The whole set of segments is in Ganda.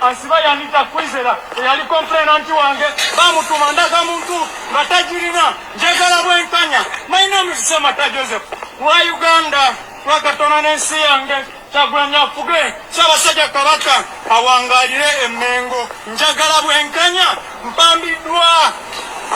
Asiba yanita kwizera eyali komplenanti wange bamutuuma ndaga muntu nga tagirina njagala bwenkanya my name is semata joseph wa uganda lwakatona n'ensi yange kyagulanya afuge ssaabasajja kabaka awangalire emmengo njagala bwenkanya mpambiddwa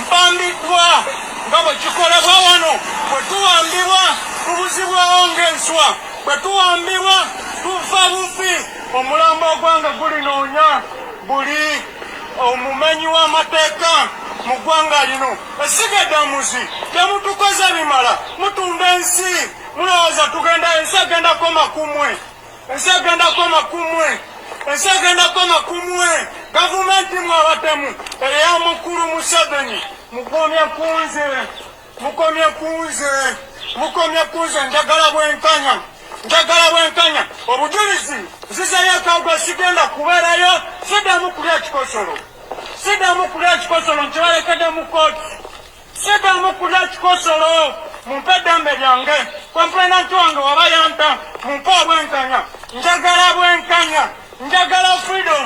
mpambiddwa nga bwe kikolebwa wano bwe tuwambibwa tubuzibwawo ng'enswa bwe tuwambibwa tuva bufi Omulambo ogwanga gulinoonya buli omumanyi w'amateeka mu ggwanga lino. Essiga eddamuzi temutukoze bimala, mutunda ensi. Mulowooza tugenda ensi egenda koma ku mmwe? Ensi egenda koma ku mmwe? Ensi egenda koma ku mmwe? Gavumenti mwe abatemu eya mukulu Museveni mugumye ku nze. mukomye kunze mukomye kunze njagala bwenkanya njagala bwenkanya obujulizi nzizayo akagwa sigenda kubeerayo sidamu kulya kikosolo sidamu kulya kikosolo nkibalekede mu kooti sidamu kulya kikosolo mumpe eddembe lyange kompulenanti wange waba yampa mumpe obwenkanya njagala bwenkanya njagala freedom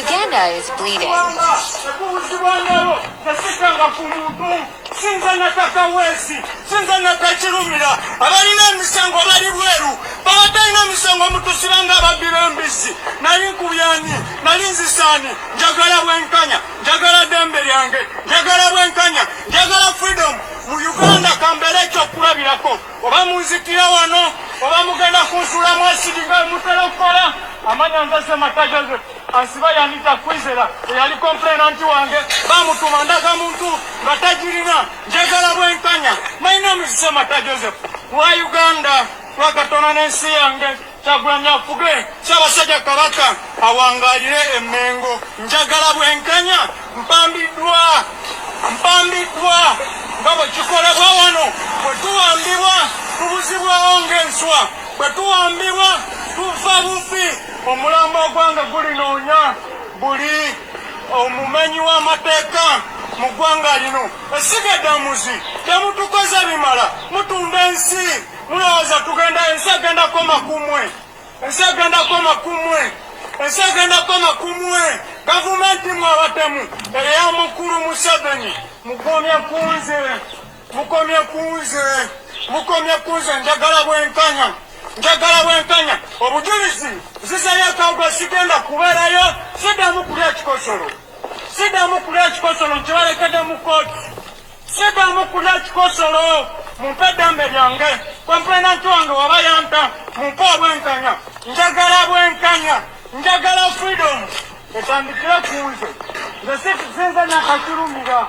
Uganda is bleeding. sinza nataka wezi sinza natakirumira abalina emisango bali bweru babatalina emisango mutusibanga ababbira embizzi nali nkubyani nali nzisaani njagala bwenkanya njagala dembe lyange njagala bwenkanya njagala freedom mu uganda kambeera ekyokulabirako oba munzikira wano oba mugenda kunsula mwasidi nga mutera okukola amanya nzase mata joseph ansiba yanita kwizera eyali komplena nti wange bamutuma ndaga muntu nga tagirina njagala bwenkanya my name is semata joseph wa uganda lwakatona n'ensi yange Kyagulanyi afuge Ssaabasajja Kabaka awangaalire e Mmengo. Njagala bwenkanya, mpambiddwa mpambiddwa nga bwe kikolebwa wano bwe tuwambibwa tubuzibwawo ng'enswa bwe tuwambibwa tufa bufi omulambo ogwange gulinoonya buli omumanyi w'amateeka mu ggwanga lino esiga eddamuzi temutukoze bimala mutunda ensi mulowooza tugenda ensi egenda koma kumwe ensi egenda koma kumwe ensi egenda koma kumwe gavumenti mwe abatemu eya mukulu museveni mukomye kunze mukomye kunze mukomye kunze njagala bwenkanya njagala bwenkanya obujulizi zizayo akawuga sigenda kubeerayo sidamu kulya ekikosolo sidamu kulya ekikosolo nkibalekede mu kooti Sita mukuna ekikosolo mumpe eddembe lyange kompulenanti wange waba yampa mumpe obwenkanya njagala bwenkanya njagala freedom etandikire ku nze nze sinze nakakirumira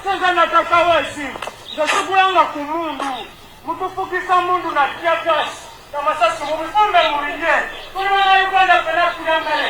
sinze natakawesi nze sigulanga ku mundu mutufugisa mundu na tiagas namasasi mubifumbe mubirye tuli bana uganda fena kuyambere